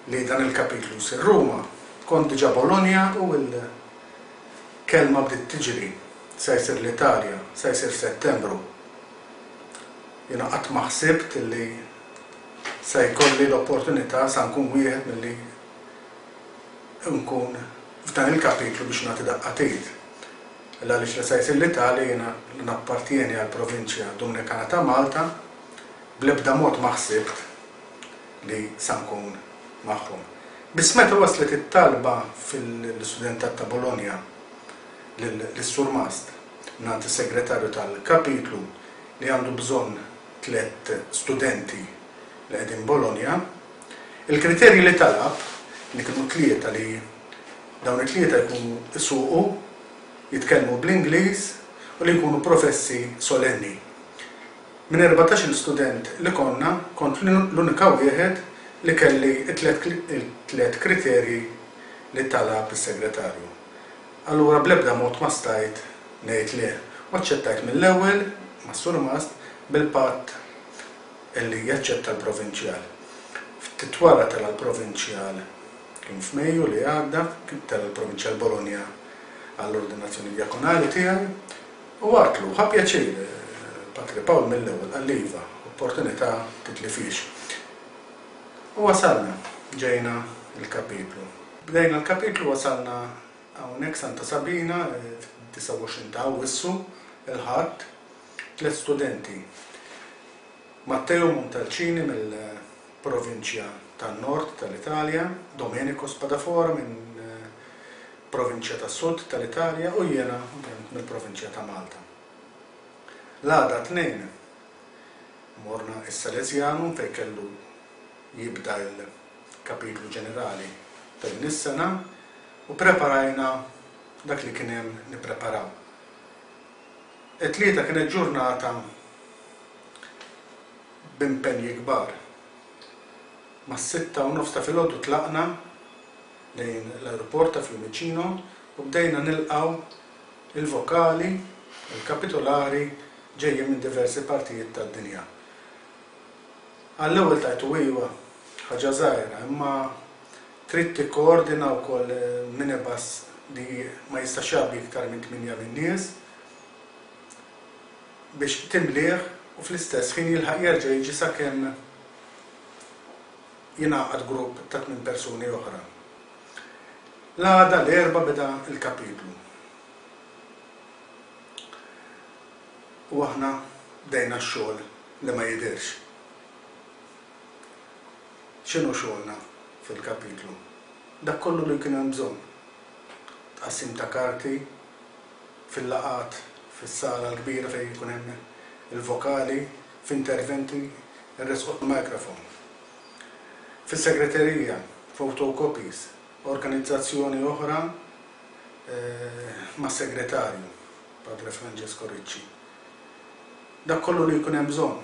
li dan il-kapitlu jsir Ruma, kont diġà Bologna u l-kelma bdiet tiġri, se jsir l-Italja, se jsir Settembru. Jiena qatt ma ħsibt li se jkolli l-opportunità sa nkun wieħed milli nkun f'dan il-kapitlu biex nagħti daqqa t'id. Illa għaliex li se jsir l-Italja jiena li nappartjeni għall-provinċja Dumnikana ta' Malta, bl-ebda mod ma ħsibt. li sa nkun magħhom. Biss meta waslet it-talba fil-Studentat ta' Bologna lis-Surmast mingħand is-Segretarju tal-Kapitlu li għandu bżonn tliet studenti li qegħdin Bologna, il-kriterji li talab, li kienu tlieta li dawn it-tlieta jkunu jsuqu, jitkellmu bl-Ingliż u li jkunu professi solenni, Minn erbatax-il student li konna, kont l-unika wieħed li kelli t-tliet kriterji li talab is-segretarju. Allura bl-ebda mod ma stajt ngħid le u aċċettajt mill-ewwel mas-surmast bil-patt li jaċċetta l-provinċjal. Ftit wara tela' l-provinċjal, kien f'Mejju li għadda, tela' l-provinċjal Bologna għall-ordinazzjoni djakonali tiegħi. U għatlu, Ħa pjaċir, Patri Pawl mill-ewwel qalli iva, opportunità titlifhiex. U wasalna, ġejna l-kapitlu. Bdejna l-kapitlu wasalna hawnhekk Santa Sabina, 29 ta' Awwissu, il-Ħadd, tliet studenti, Matteo Montalcini mill. provinċja tan-Nord tal-Italja, Domenico Spadafora minn provinċja tas-Sud tal-Italja u jiena ovvjament mill-provinċja ta' Malta. L-għada t-Tnejn morna s-Salesianum fejn kellu jibda l-kapitlu ġenerali ta' din is-sena u ppreparajna dak li kien hemm nippreparaw. It-Tlieta kienet ġurnata b'impenji kbar. Mas-sitta u nofs ta' filgħodu tlaqna lejn l-ajruport ta' Fiumicino u bdejna nilqgħu l-vokali u l-kapitulari ġejjin minn diversi partijiet tad-dinja. Għall-ewwel tajtu iva, ħaġa żgħira, imma trid tikkoordina wkoll minibus li ma jistax jgħabbi iktar minn tmienja lin-nies. biex timlieh u fl-istess ħin jilħaq jerġa' jiġi sakemm jingħaqad grupp ta' tmien persuni oħra. L-għada, l-Erbgħa, beda l-kapitlu u aħna bdejna x-xogħol li ma jidhirx. X'inhu xogħolna fil-kapitlu? Dak kollu li kien hemm bżonn. Tqassim ta' karti. fil-laqgħat fis-sala l-kbira fejn ikun hemm il-vokali f'interventi ressquh il-microphone. Fis-segreterija, photocopies, organizzazzjoni oħra mas-segretarju, Padre Francesco Ricci. Dak kollu li jkun hemm bżonn.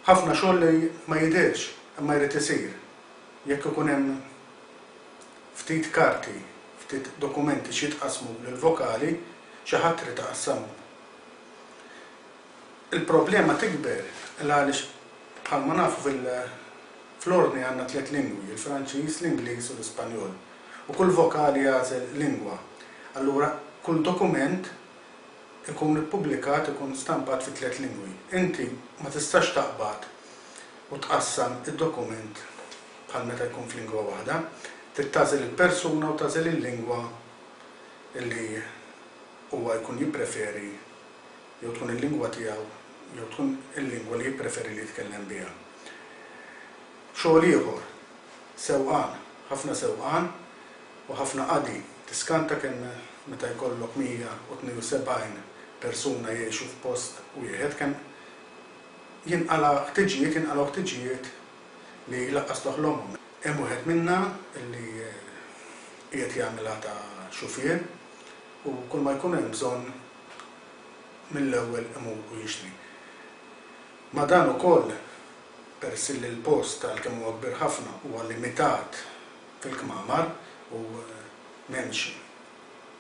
Ħafna xogħol li ma jidhirx imma jrid isir jekk ikun hemm Ftit karti, ftit dokumenti x'jitqassmu lil vokali, xi ħadd irid iqassamhom. Il-problema tikber il għaliex bħalma nafu fil fl-Ordni għandna tliet lingwi, il-Franċiż, l-Ingliż u l-Ispanjol, u kull vokali jagħżel lingwa. Allura kull dokument ikun ippubblikat, ikun stampat fi tliet lingwi. Inti ma tistax taqbad u tqassam id-dokument bħal meta jkun f'lingwa waħda, trid tagħżel il-persuna u tagħżel il-lingwa li huwa jkun jippreferi jew tkun il-lingwa tiegħu jew tkun il-lingwa li jippreferi li jitkellem biha. Xogħol ieħor, sewqan, ħafna sewqan u ħafna qadi, tiskanta kemm meta jkollok 172 persuna jgħixu f'post wieħed kemm jinqala' ħtiġijiet, jinqalgħu ħtiġijiet, li laqqas toħlomhom. Hemm wieħed minna li qiegħed jagħmilha ta' xufier u kulma jkun hemm bżonn mill-ewwel imur u jixtri. Ma' dan ukoll, peress li l-post għalkemm huwa kbir ħafna huwa limitat fil-kmamar u m'hemmx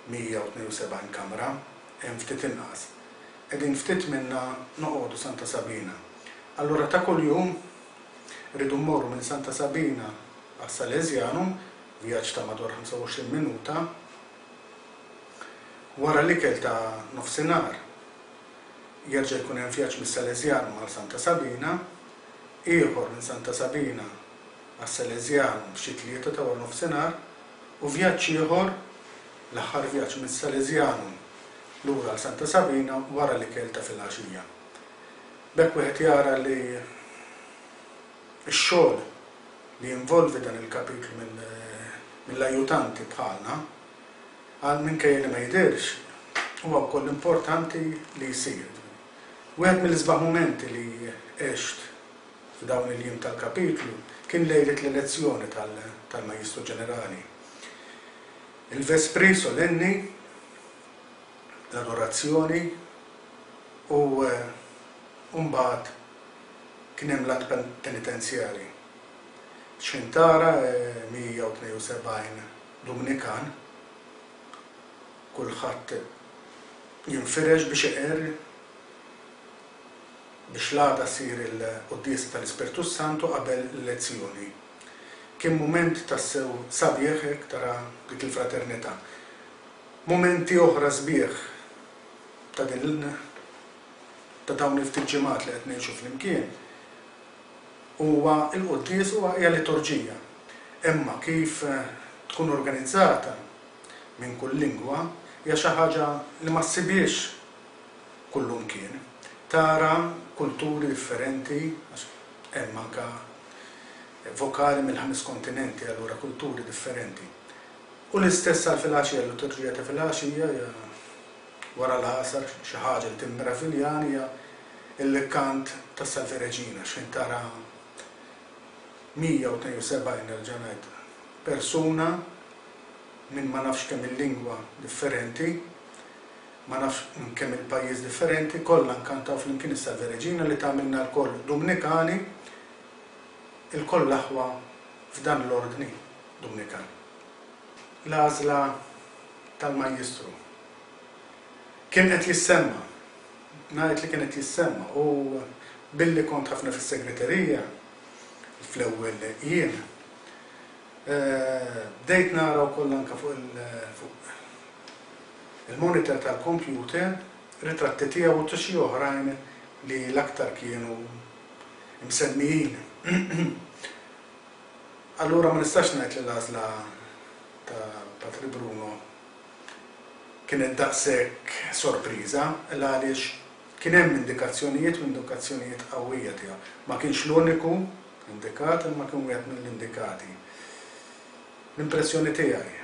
172 kamra, hemm ftit inqas, qegħdin ftit minna noqogħdu Santa Sabina. Allura ta' kuljum irridu mmorru minn Santa Sabina għas-Salesianu, vjaġġ ta' madwar 25 minuta. Wara l-ikel ta' nofsinhar jerġa' jkun hemm vjaġġ mis-Salesianu għal Santa Sabina, ieħor minn Santa Sabina għas-Salesianu f'xi tlieta ta' waranofsinhar. u vjaġġ ieħor, l-aħħar vjaġġ mis-Salesianum lura għal Santa Sabina wara l-ikel ta' filgħaxija. B'hekk wieħed jara li x-xogħol li jinvolvi dan il-kapitlu mill-ajutanti bħalna, għal minkejja li ma jidhirx, huwa wkoll importanti li jsir. Wieħed mill-isbaħ mumenti li għext f'dawn il-jiem tal-Kapitlu kien lejlet l-elezzjoni tal-Majjistru Ġenerali. Il-Vespri Solenni, l-Adorazzjoni u mbagħad kien hemm l-Att Penitenzjali. X'intara 172 Dumnikan, kulħadd jinfirex biex iqerr. biex l-għada ssir il-quddiesa tal-Ispirtu s-Santu qabel l-elezzjoni. Kien mument tassew sabiħ hekk tara dik il-fraternità. Mumenti oħra sbieħ ta' din ta' dawn il-ftit ġimgħat li qed ngħixu flimkien huwa l-quddies huwa hija liturġija. Imma kif tkun organizzata minn kull lingwa hija xi ħaġa li ma ssibhiex kullumkien, tara kulturi differenti, għax hemm anke vokali mill-ħames kontinenti, allura kulturi differenti. U l-istess għal filgħaxija, l-liturġija ta' filgħaxija hija wara l-Għasar xi ħaġa li timmeraviljani hija l-kant tas-Salve Regina, għax fejn tara 172, nerġa' ngħid, persuna minn ma nafx kemm-il lingwa differenti, Ma nafx minn kemm il pajjiż differenti, kollha nkantaw flimkien is-Salve Regina li tagħmilna lkoll Dumnikani, ilkoll l-aħwa f'dan l-Ordni Dumnikan. L-għażla tal-Majjistru. Kien qed jissemma, ngħid li kien qed jissemma u billi kont ħafna fis-segreterija fl-ewwel jiem, Bdejt nara wkoll anke fuq il-monitor tal-kompjuter ritratti tiegħu u ta' xi oħrajn li l-aktar kienu msemmijin. Allura ma nistax ngħid li l-għażla ta' Patri Bruno kienet daqshekk sorpriża, l-għaliex kien hemm indikazzjonijiet u indikazzjonijiet qawwija tiegħu. Ma kienx l-uniku Indikat imma kien wieħed mill-indikati. L-impressjoni tiegħi.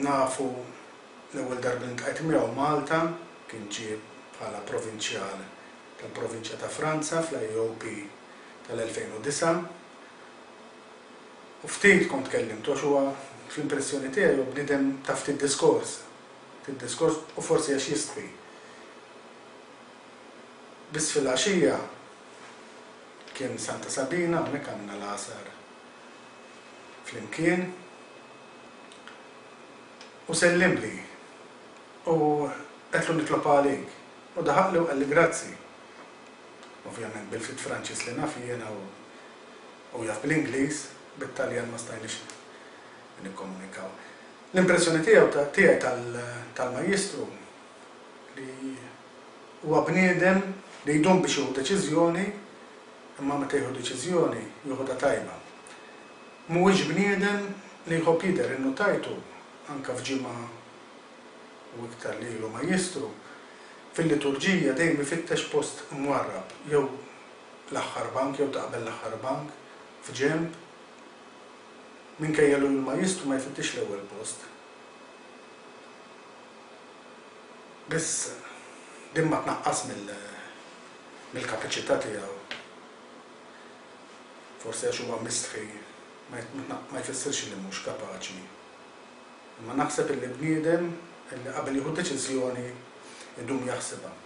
Nafu l-ewwel darba li ntqajt miegħu Malta kien ġie bħala provinċjal tal-provinċja ta' Franza fl-AEOP tal-2009 u ftit kont kellimtu għax huwa fl-impressjoni tiegħi huwa bniedem ta' ftit diskors. Ftit diskors u forsi għax jistħi. Biss filgħaxija kien Santa Sabina, hawnhekk għandna l-Għasar flimkien, u sellimli u għedtlu nitlob għalik, u daħaqli u qalli grazzi, ovvjament bil-ftit Franċiż li naf jiena u hu jaf bl-Ingliż, bit-Taljan ma stajniex nikkomunikaw. L-impressjoni tiegħu, tiegħi tal-Majjistru, li huwa bniedem li jdum biex jieħu deċiżjoni imma meta jieħu deċiżjoni joħodha tajba. Mhuwiex bniedem li jħobb jidher, innutajtu anke f'ġimgħa u iktar li ilu Majjistru, fil-liturġija dejjem ifittex post mwarrab, jew l-aħħar bank jew ta' qabel l-aħħar bank, f'ġenb, minkejja li hu l-Majjistru ma jfittixx l-ewwel post. Biss, din ma tnaqqas mill-kapaċità tiegħu. Forsi għax huwa mistħi ma jfissirx li mhux kapaċi. Imma naħseb illi bniedem illi qabel jieħu deċiżjoni jdum jaħsibha.